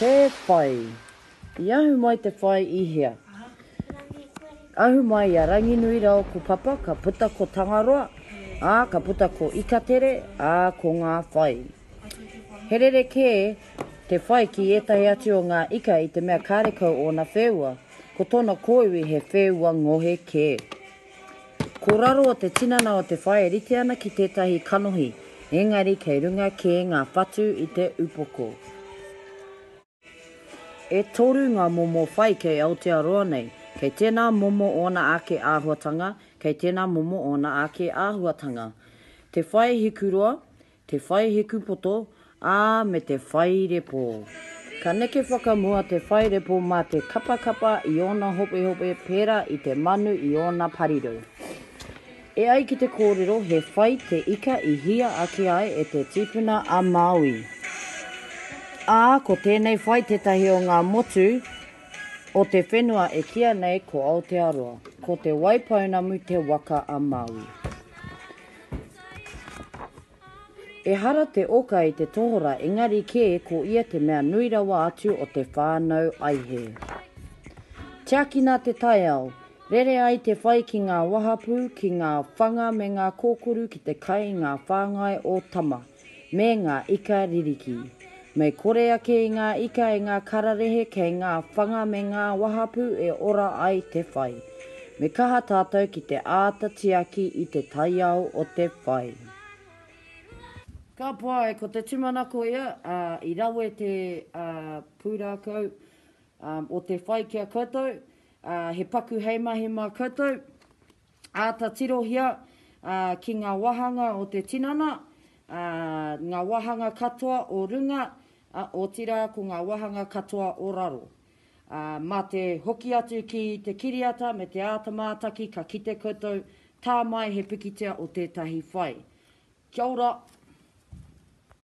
Te whai. I ahu mai te whai i hea? Ahu mai i a Ranginuirao ko Papa, ka puta ko Tangaroa, ā, ka puta ko Ikatere, ā, ko ngā whai. He rerekē te whai ki ētahi atu o ngā ika i te mea kārekau ōna wheua, ko tōna kōiwi he wheua ngohe kē. Ko raro o te tinana o te whai e rite ana ki tētahi kanohi, engari kei runga kē ngā whatu i te upoko. E toru ngā momo whai kei Aotearoa nei, kei tēnā momo ōna ake āhuatanga, kei tēnā momo ōna ake āhuatanga. Te whai hikuroa, Te whai hekupoto, ā, me te whai repo. Ka neke whakamua te whai repo mā te kapakapa i ōna hopehope pērā i te manu i ōna pariru. E ai ki te kōrero he whai te ika i hia ake ai e te tīpuna a Māui. Ā, ko tēnei whai tētahi o ngā motu o te whenua e kīa nei ko Aotearoa. Ko Te Waipounamu te waka a Māui. Ehara te oka i te tohora engari kē ko ia te mea nui rawa atu o te whānau aihe. Tiakina te taiao, rere ai te whai ki ngā wahapū, ki ngā whanga me ngā kōkuru ki te kai i ngā whāngai o Tama. me ngā ika ririki. Me kore ake i ngā ika e ngā kararehe kei ngā whanga me ngā wahapū e ora ai te whai. Me kaha tātou ki te āta tiaki i te taiao o te whai. Ka pai, ko te tūmanako ia, ā, i rawe te, ā, pūrākau, ā, o te whai ki a koutou, ā, he paku hei mahi mā koutou. Āta tirohia ki ngā wāhanga o te tinana, ngā wāhanga katoa o runga, otirā ko ngā wāhanga katoa o raro. Mā te hoki atu ki te kiriata me te āta mātaki ka kite koutou, tā mai he pikitia o tētahi whai. Kia ora!